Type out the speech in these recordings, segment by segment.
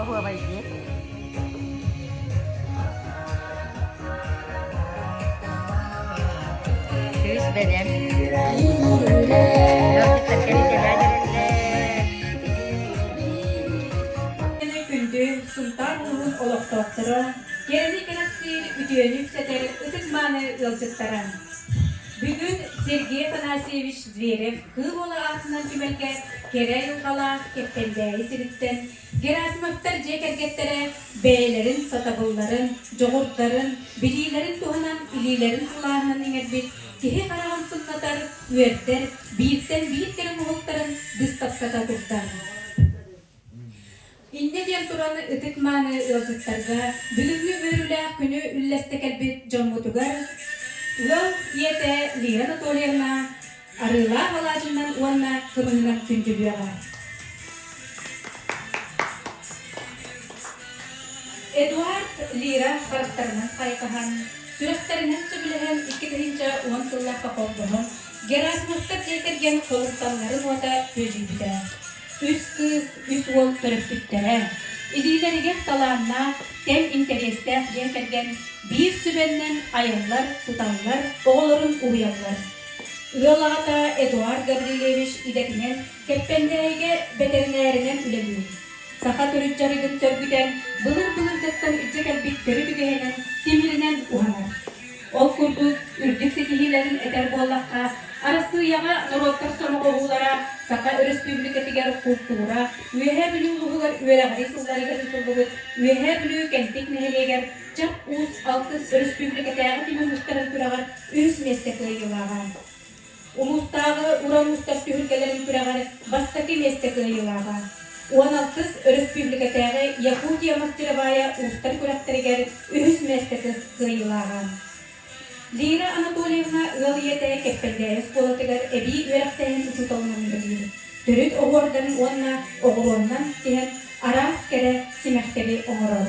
Оһуобай диэ. Кыыс бэлэм. Ыалдьыттар кэритэлээн эрэллэр. Күндү Сунтаар улууһун олохтоохторо, кэрэни кэрэхсиир үтүөнү үксэтэр ытык мааны ыалдьыттара! Бүгүн Сергей Афанасьевич Зверев Кыым уола аатынан түмэлгэ кэрэ айылҕалаах Кэптэллээйи сириттэн Герасимовтар дьиэ кэргэттэрэ бэйэлэрин сатабылларын, дьоҕурдарын, билиилэрин туһанан илиилэрин сылааһынан иҥэрбит киһи хараҕын сымнатар, үөрдэр, бииртэн биир кэрэ моһуоктарын быыстапката турдар. Инньэ диэн туран ытык-мааны ыалдьыттарга бүгүҥҥү үөрүүлээх күнү үллэстэ кэлбит дьоммутугар ыал ийэтэ Лия Анатольевна арыылаах алаадьынан уонна кымыһынан күндүлүөҕэ. Эдуард Лира харахтарынан хайҕаһан, сүрэхтэринэн сөбүлэһэн икки тыһыынча уон сыллаахха холбоһон Герасмовтар дьиэ кэргэн холумталларын уота күөллүйбүтэ. үс кыыс, үс уол төрөппүттэрэ. Илиилэригэр талааннаах, тэҥ интэриэстээх дьиэ кэргэн биир сүбэннэн айаллар-туталлар, оҕолорун уһуйаллар. Ыал аҕата Эдуард Гаврильевич идэтинэн Кэппэндээйигэ бэтэринээринэн үлэлиир. Саха төрүт дьарыгын сөргүтэн, былыр-былыргыттан илдьэ кэлбит төрүт үгэһинэн, тимиринэн уһанар. Ол курдук, үрдүк ситиһиилэрин этэр буоллахха, Арассыыйаҕа норуоттар сомоҕоһуулара Саха Өрөспүүбүлүкэтигэр култуура, Үөһээ Бүлүү улууһугар үөрэҕирии сылларыгар ыытыллыбыт Үөһээ Бүлүү Кэнтик нэһилиэгэр Чап Уус алтыс өрөспүүбүлүкэтээҕи түмүк мустарын күрэҕэр үһүс миэстэ кыайыылааҕа. Улуустааҕы уран устар түһүлгэлэрин күрэҕэр бастакы миэстэ кыайыылааҕа, уон алтыс өрөспүүбүлүкэтээҕи Якутия мастеровая уустар күрэхтэригэр үһүс миэстэ кыайыылааҕа. Лира Анатольевна ыал ийэтэ Кэппэлдээйи оскуолатыгар эбии үөрэхтээһин учууталынан үлэлиир. Төрүт оһуордарын уонна оҕуруоннан тиһэн араас кэрэ симэхтэри оҥорор.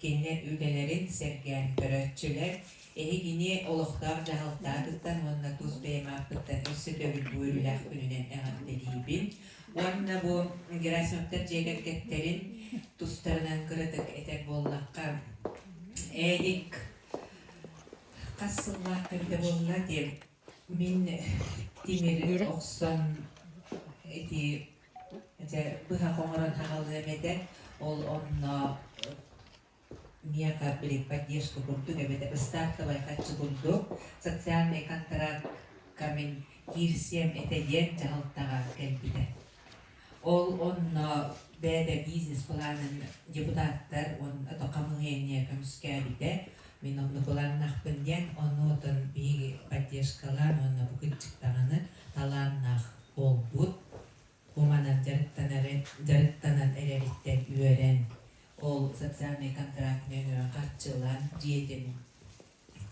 Кинилэр үлэлэрин сэргээн, көрөөччүлэр эһигини олохтоох дьаһалтагыттан уонна тус бэйэм ааппыттан өссө төгүл бу үөрүүлээх күнүнэн эҕэрдэлиибин уонна бу Герасимовтар дьиэ кэргэттэрин тустарынан кыратык этэр буоллахха Эдик хас сыллаах эбитэ буолла диэн Мин тимири охсон ити этэ быһах оҥорон аҕалыам этэ, ол онно миэхэ блин поддержка курдук эбэтэр ыстаапкабай харчы курдук социальный контракка мин киирсиэм этэ диэн дьаһалтаҕа кэлбитэ Ол онно бэйэтэ бизнес-планын депутаттар уонна то хамыыһыйа көмүскээбитэ. Мин онно быланнахпын диэн, онуотун биһиги поддержкалаан уонна бу кырдьык даҕаны талааннаах буолбут, уманан дьарыктанан эрэриттэн үөрэн, ол социальнай контракт нөҥүө харчылаан дьиэтин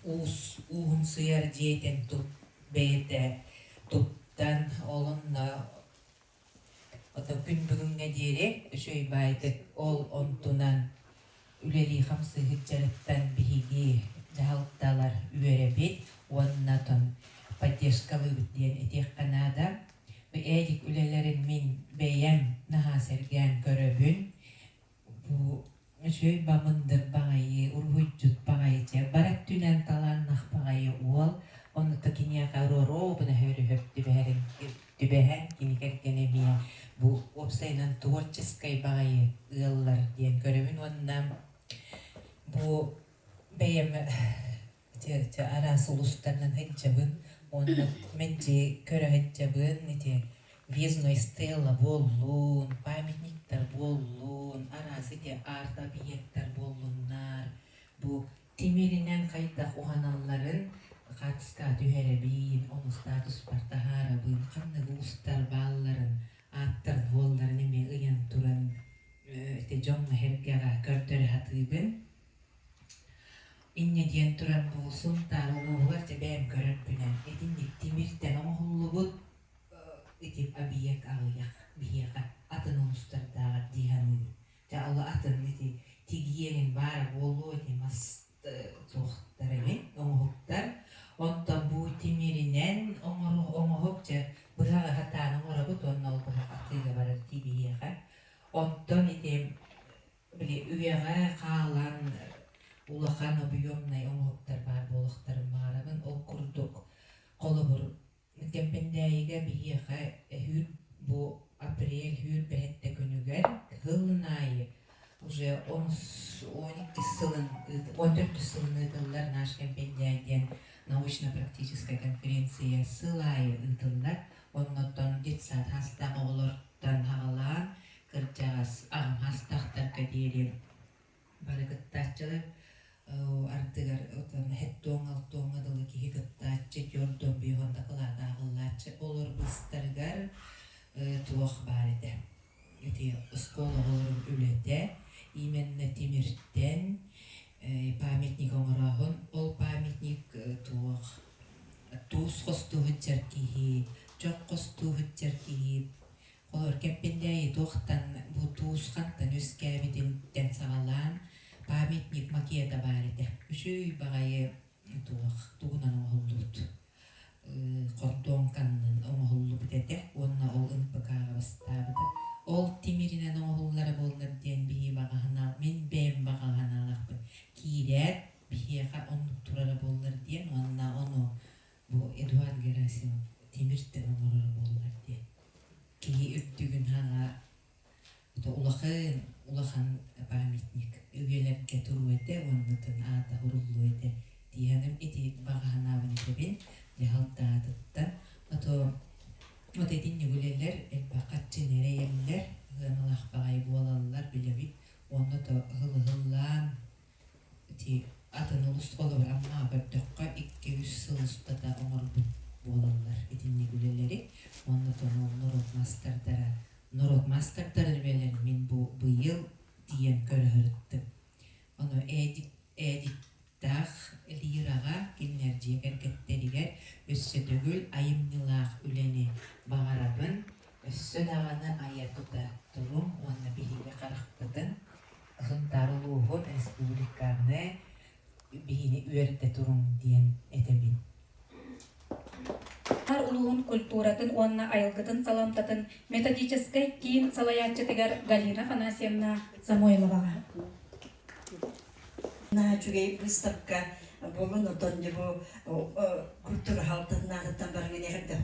уус уунсуйар дьиэтин бэйэтэ туттан, ол онно Отоппүн бүгүҥҥэ диэри үчүгэйбээдик ол онтунан үлэлии-хамсыыһыт дьарыктан биһиги дьаһалталар үөрэбит уонна тон поддержкалыыбыт диэн этиэххэ наада. Бу эдик үлэлэрин мин бэйэм наһаа сэргээн көрөбүн. Бу үчүгэй бабындыр баҕайы, уруһуйдьут баҕайы, дьэ, бар өттүнэн талааннах баҕайы уол. Ону да киниэхэ роруобуна сөбүлэһэр түбэһэрин, түбэһэр кини кэргэнэ эмиэ бу уопсайынан творческай баҕайы ыаллар диэн көрөбүн уонна бу бэйэм Ити араас улуустарынан ыччабын уонна мэлдьи көрө ыччабын ити Бездной стела буоллун, памятниктар буоллун, араас ити арт-объектар буоллуннар, бу тимиринэн хайдах уһаналларын хатска түһэрэбин, ону статуспар таһаарабын, ханнык уустар баалларын, ааттар буолларын эмиэ ыйан туран ити дьоҥҥо-сэргэҕэ көрдөрө сатыыбын. Инньэ диэн туран бу Сунтаар улууһугар дьэ бэйэм көрөр-күлэр итинник тимир-тэн оҥоһуллубут ити объект аҕыйах биһиэхэ атын улуустардааҕар дии саныыбын. Дьэ ол атын ити тигиэнин баара буолуо дии мас туохтара эбин оҥоһуктар онтон бу тимиринэн оҥоһук дьэ быһа сатаан оҥоробут уонна ол быһа атыыга барар дии биһиэхэ. Онтон ити Били, үйэҕэ хаалан улахан объемнай оҥоһуктар баар буолуохтарын баҕарабын. Ол курдук, холобур, Кэмпэндээйигэ биһиэхэ өһүүр бу апрель, үүр бэһэттэ күнүгэр сылын аайы уже он иккис сылын, он төрдүс сылын ыытыллар Наш Кэмпэндээй диэн научно-практическай конференция сыл аайы ыытыллар. Оннуттан детсад саастаах оҕолортон саҕалаан Кырдьаҕас аһымаастаахтарга диэри бары кыттааччылар ардыгар отон эттуоҥ-алтуоҥҥа дылы киһи кыттааччы түөрт долбуйа хонно кылаата аһыллааччы олор быстарыгар туох баар этэ. Ити оскуола оҕолорун үлэтэ именно тимиртэн памятник оҥороохун ол памятник туох туус хостуу сылдьар киһи чох хостуу сылдьар киһи Холуорга эппиттээйи туохтан бу туус хантан үөскээбитинтэн саҕалаан памятник макета баар этэ. Үчүй баҕайы туох тугунан оҥоһуллубут хордуоҥканнын оҥоһуллубут этэ уонна ол НПК-ҕа бастаабыта. Ол тимиринэн оҥоһуллара буоллар диэн биһи баҕаһына мин бэйэм баҕаһынаалахпын киирээт биһиэхэ оннук турара буоллар диэн уонна ону Бу Эдуард Герасимов тимир-тэбэ оҥороро буоллар диэн киһи үрдүгүн хаҥаар, ото улахан, улахан памятник үйэлэргэ туруо этэ уонна атын аата уруллуо этэ дии санаам ити баҕа санаабын этэбин дьаһалтаатыттан потом вот эти ньүгүлэлэр элбэх хаччыны эрэйэллэр ыаналаах баҕайы буолаллар билэбит онно то ыһыл ыһыллаан Ити атын улустугаларынан аабардахха икки-үс сыл устата оҥорбут буолаллар итинник үлэлэри. Уонна тоҥол норуот маастардара норуот маастардарын үлэлэрин мин бу быйыл тиийэн көрөһөрүттүм. Ону ээдик ээдиктаах лираҕа кинилэр дьиэ кэргэттэригэр өссө төгүл айымньылаах үлэни баҕарабын. Өссө даҕаны айа-тута туруҥ уонна биһиги харахпытын Сунтаар улууһун республиканы биһини үөрэтэ туруҥ диэн этэбин. улууһун культуратын уонна айылгытын саламтатын методическай киин салайааччытыгар Галина Афанасьевна Самойловаҕа. На үчүгэй выставка буолан оттон дьэ бу культура халтатынаатыттан барыгын эһэрдэ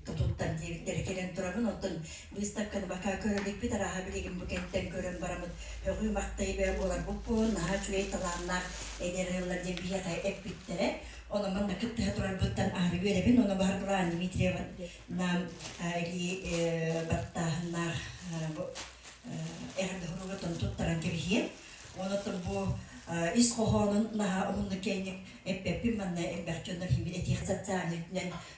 тутуттан диэбиттэрэ кэлэн турабын оттон быыстапканы бака көрөрбүппүт арааһа билигин бу кэнниттэн көрөн барамыт бөҕүү-махтай бөө буоларбыт буолан наһаа үчүгэй талааннаах энергиялар диэн биһиэхэ эппиттэрэ онон манна кыттыһа турарбыттан аһары үөрэбин оны бар былаан Дмитриева нам или баттааһыннаах эҕэрдэһоруугуттан туттаран кэбиһиэм онуттан бу ис хоһоонун наһаа уһуннук кэнник эппеппин манна элбэх дьоннор химит этиэх социальнай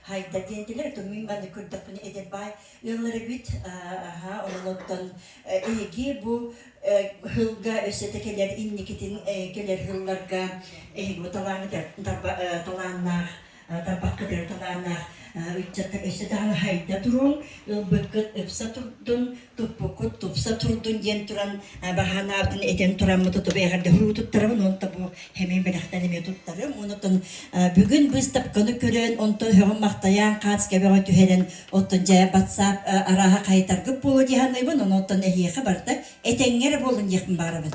Хайда диэн тилэр то мин манны көрдөхпүнэ эдэр бай ыаллары бит аха онолоттон эги бу хылга өссө те келер инникитин келер хылларга эги бу талааны талааннаах тарбаккытыр талааннаах ыччаттар өссө даана хайда туруҥ ылбыккыт ыпса турдун туппуккут тупса турдун диэн туран баһаанаабытын этэн тураммыт тутубэҕэр да һуруу туттарабын онто бу хэмээн бэлэхтэн эмиэ туттарым онтон бүгүн быыстапканы көрөн онтон өһөҕүм махтайаан хац кэбэҕэ түһэрэн оттон дьэ батсаап арааһа хайытаргыт буолуо дии саныыбын онтон эһиэхэ барыта этэҥҥэ эрэ буоллун диэхпин баарабын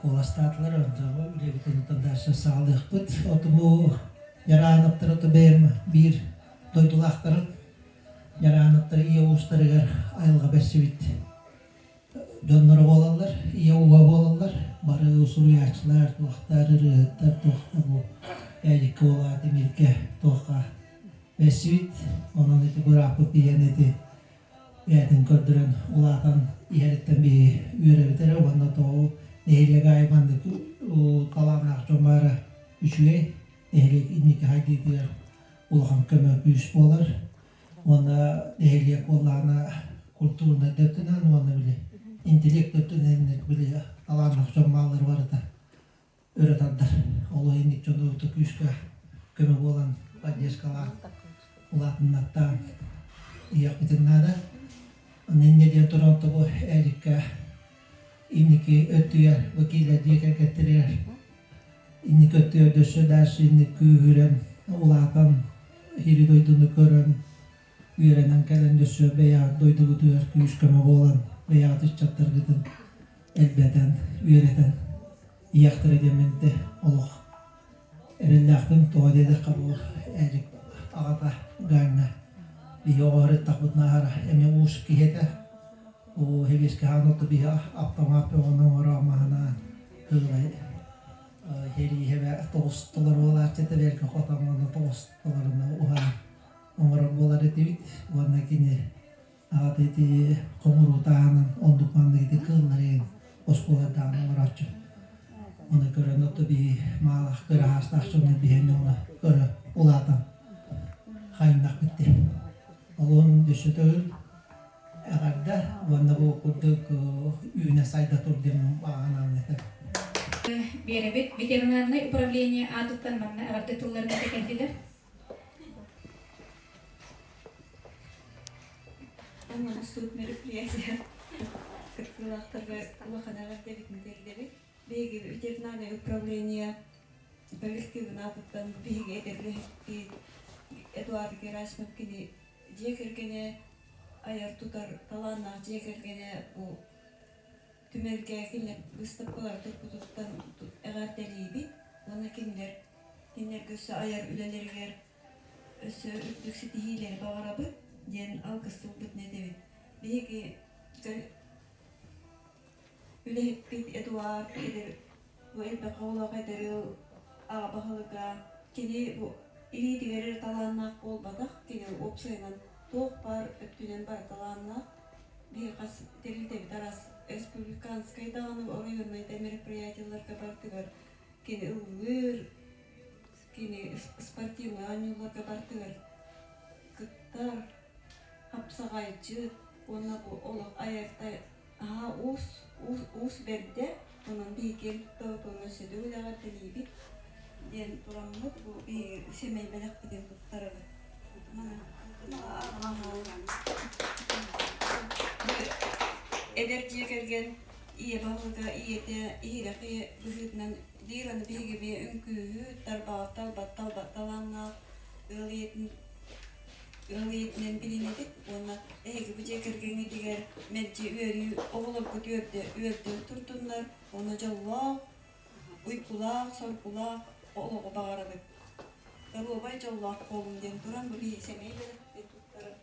Куоластаатылар ордоҕу үлэбитин оттон дальше саҕалыахпыт. Оту бу Яраановтар оту бэйэм биир дойдулаахтарын Яраановтар ийэ уустарыгар айылҕа берсибит дьонноро буолаллар, ийэ ууга буолаллар. Бары усуруйааччылар, туохтар ырыаһыттар, туохта бу ээдикке буолаат, имиргэ туохха берсибит. Онон ити бырааппыт ийэн ити бэйэтин көрдөрөн улаатан иһэриттэн биһи үөрэбит эрэ уонна тоҕо нэһилиэк аайы маннык талааннаах дьон баара үчүгэй нэһилиэк инники хайдыытыгар улахан көмө күүс буолар уонна нэһилиэк буоллаҕына культурнай да өттүнэн уонна били интеллект да өттүнэн били талааннаах дьон бааллара барыта ыра тардар. Олох инник дьону ута күүскэ көмө буолан поддержкалаан улаатыннартаан ийэхпитин наада. Ныне диэн туран тобу эдикка инники өттүгэр вакилер дьиэ кэргэттеригэр инники өттүгэр дөссө даашы инники күүһүрэн улаатан ири дойдуну көрөн үөрэтэн кэлэн дөссө бэйэҕит дойдугутугар күүс-көмө буолан бэйэҕит ыччаттаргытын элбэтэн үөрэтэн ийэхтэрэ диэминте олох эрэллээхтин тоҕо диэтэххэ бу ээдик аҕата Гаанна биһи оҕоһырыттахпыт нааһара эми уус киһи этэ бу хэгиэскэ хаан отто биһи аптамаат бөҕөнү оҥороо маһынаан кыылай херииһэбэ тоҕусталар уолааччыта бэргэ хотон онно тоҕусталарына уһаан оҥорор буолар этибит уонна кини аҕата ити хомуруо таһынан оннук маннык ити кыылларын оскуолардаҕын оҥорооччу ону көрөн отто биһи маалах кыраһаастаах дьону биһэни уна көрө улаатан хайнах битти олон дүссөтөгүл эҕэрдэ уонна бу курдук үүнэ сайда тур диэн баанаан этэр Биэрэбит ветеринарнай управление аатыттан манна эҕэрдэ тылларын этэ келдилер У нас тут мероприятие. Кыркылахтарга улаханаҕар дэбит мэтэллэри. Биһиги ветеринарное управление коллективына туттан биһиги эдерлэһикки Эдуард Герасимов кини дьиэ кэргэнэ айар тутар талааннаах дьиэ кэргэнэ бу түмэлгээкилэр быыстапкалары туппутуттан эҕэр дэлиибит уонна кинилэр кинилэргэ өссө айар үлэлэригэр өссө үрдүк ситиһиилэри баҕарабыт диэн алгыстыбыппытын этэбит биһиги үлэһиппит эдуард Бу элбэх оҕолоох эдэр ыал аҕа баһылыга кини бу илиитигэр эрэ талааннаах буолбатах, кини уопсайынан туох баар өттүнэн бары талааннаах. Биһи хас тэрилтэбит араас республиканскай даҕаны оройуоннай да мероприятиеларга бардыгар кини ыллыыр, Кини спортивнай оонньууларга бардыгар кытта хапсаҕайчы уонна бу олох айартай аһа уус уус уус бэрдэ онон биһиги киэҥ уонна сөдүгү дэҕирдэлиибит диэн тураммыт бу биһиги сэмэй бэлэхпитин туттарабыт эдэр дьиэ кэргэн ийэ балыга ийэтэ иһирэхи быһыытынан Биир аны биһиги эмиэ үҥкүүһү тарбаҕыттан ылбаттан ылбаттан ылаҥнаах ыал ийэтин ыал ийэтинэн билинэтик уонна эһиги бу дьиэ кэргэҥҥитигэр мэлдьи үөрүү оҕолорго үөрдэ үөрдэн туртуннар уонна дьоллоох уйгулаах соргулаах олоҕу баҕарабыт доруобай дьоллоох буолуҥ диэн туран бу биһиги сэмэй бэлэхтиир туттарар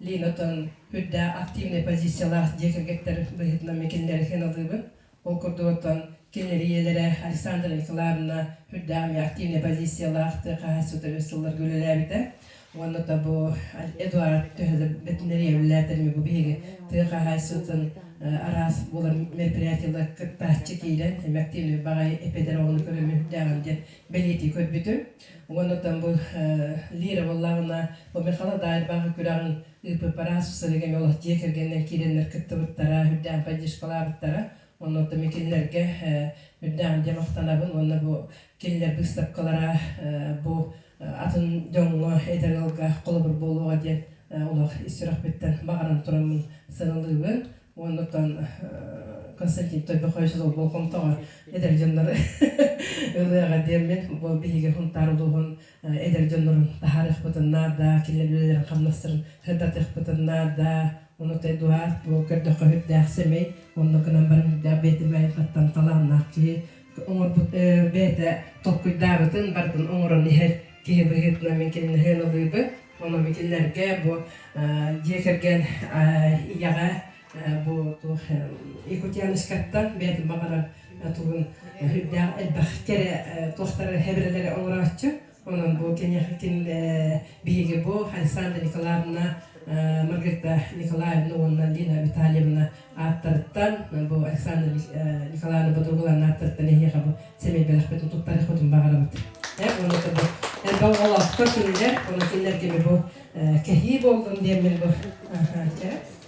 Линатын үрдээх активнай позициялаах дьиэ кэргэттэр быһыытынан митиннэри сыаналыыбын. Ол курдук оттон кинилэр ийэлэрэ Александра Николаевна үрдээх эмиэ активнай позициялаах тыа хаһаайыстыбата үс сылларга үлэлээбитэ. Уонна то бу Эдуард төһө да ветеринария үлэлээтэр эмиэ бу биһиги тыа хаһаайыстыбатын араас буолар мероприятиелар кыттааччы киирэн, эмиэ активнай баҕайы эпэдэр оҕону көрөмүн диэн бэлиэтии көрбүтүм. Уонна там бу Лира буоллаҕына, бу Михала Даайбаҕа күрэҕин ыыппыппар ааспыт сырыыга эмиэ олох дьиэ кэргэнинэн киирэннэр кыттыбыттара, үрдээн поддержкалаабыттара. Онно там кинилэргэ үрдээн дьэ махтанабын уонна бу кинилэр быыстапкалара бу атын дьоҥҥо эдэр ыалга холобур буолуоҕа диэн олох ис сүрэхпиттэн баҕаран тураммын сыралыыбын. Уонна оттон Константин Тойбох Хойсос болҕомтоҕо эдэр дьоннору ылыаҕа диэммин, бу биһиги Хунтаар улууһун эдэр дьоннорун таһаарыахпытын наада, кинилэр үлэлэрин хамнастарын сырдатыахпытын наада. Ону оттон Эдуард бу көрдөххө үрдээх сэмэй, онно гынан баран үрдээх бээтинбээн хаттан талааннаах киһи, оҥорбут бэйэтэ толкуйдаабытын бардын оҥорон иһэр киһи быһыытынан мин кинини сыаналыыбын. Онон кинилэргэ бу дьиэ кэргэн ийэҕэ бу туох Якутяночкаттан бэйэтин баҕарар тугун үрдээх элбэх кэрэ туохтары хэбирэлэри оҥорооччу Онон бу киниэхитин биһиги бу Александра Николаевна, Маргарита Николаевна уонна Лина Витальевна ааттарыттан бу Александра Николаевна Бодругулаана ааттарыттан эһиэхэ бу сэмэй бэлэхпит утуктарыахпытын баҕарабыт. Уонна бу олохтор кинилэр, онон кинилэргэ бу кэһии болдун диэммин бу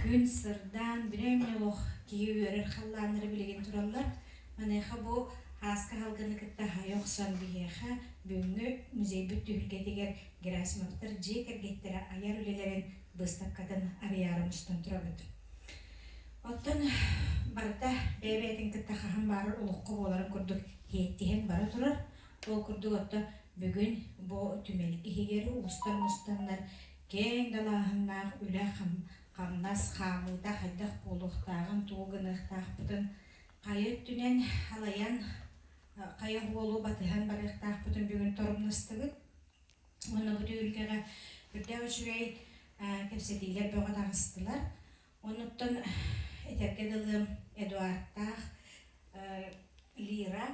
күн сырдаан бүрээмньэ олох киһи үөрэр халлааннара билигин тураллар маныаха бу ааска аһылгыны кытта хайа охсон биһиэхэ бүгүҥҥү музейбыт түһүлгэтигэр герасимовтар дьиэ кэргэттэрэ айар үлэлэрин быыстапкатын арыйаары мустан турабыт оттон барыта бэйэ-бэйэтин кытта хаһан баарар олоххо буоларын курдук иһиттиһэн бара турар ол курдук отто бүгүн бу түмэл иһигэр устар мустаннар Киэҥ далааһыннаах үлэ хамнас хаалыыта хайдах буолуохтааҕын тугу гыныахтаахпытын, хайа өттүнэн халайан, хайа уолу батыһан барыахтаахпытын бүгүн торумнастыбыт. Онно бу түһүлгэҕэ үрдээх үчүгэй кэпсэтиилэр бөҕө таҕыстылар. Онуттан этэргэ дылы Эдуардтаах Лира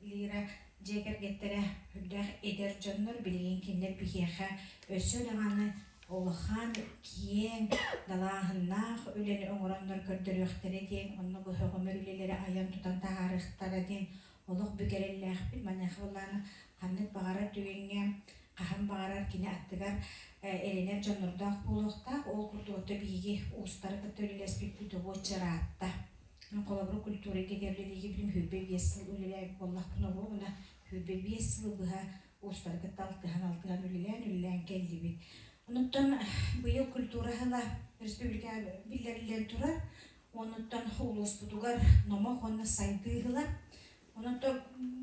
Лира дьиэ кэргэттэрэ үрдээх эдэр дьоннор билигин кинилэр биһиэхэ өссө даҕаны улахан киэҥ далааһыннаах үлэни оҥороннор көрдөрүөхтэрэ диэн онно көһөҕөмөр үлэлэри айан-тутан таһаарыахтара диэн Олох бүк эрэллээхпин. Маныаха былаан ханнык баҕарар түгэҥҥэ, хаһан баҕарар кини аттыгар эрэнэр дьоннордоох буолуохтаах. Ол курдук отто биһиги уустары кытта үлэлэспиппит уочча ыраатта. Холобур, культура ирдэбилэ биһиги бүтүн күүрбэ биэс сыл үлэлээбит буоллахпына, оруобуна күүрбэ биэс сылы быһа уустары кытта алтыһан, алтыһан үлэлээн, үлэлээн кэллибит. Онуттан быйыл культура аһыла республикаҕа биллэриллэн турар. Онуттан улууспутугар номох уонна сайдыы ыһыла. Онуттан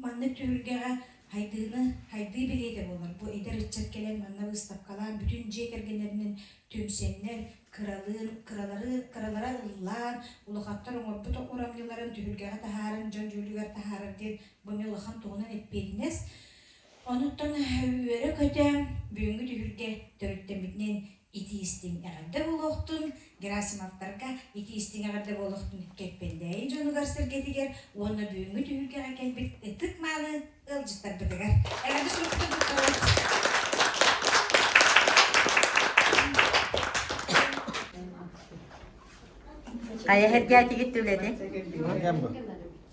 маннык түһүлгэҕэ хайдыыны хайдыы билиэтэ буолар бу эдэр ыччат кэлэн манна быыстапкалаан бүтүн дьиэ кэргэннэринэн түмсэннэр кыралыын кыралары кыралара ыллаан улахаттар оҥорбут урамньыларын түһүлгэҕэ таһааран дьон дьүүлүгэр таһаарар диэн бу эмиэ улахан туһунан эппиэтинэс онуттан үөрэ-көтө бүгүҥҥү түһүлгэ төрүттэммитинэн Ити-истиҥ эҕэрдэ буолуохтун, Герасимовтарга ити-истиҥ эҕэрдэ буолуохтун Кэкпэндээйи дьонугар-сэргэтигэр уонна бүгүҥҥү түһүлгэҕэ кэлбит ытык-мааны ыалдьыттарбытыгар эҕэрдэ суруктар туттарабыт. Хайа сэргээтигит үлэни?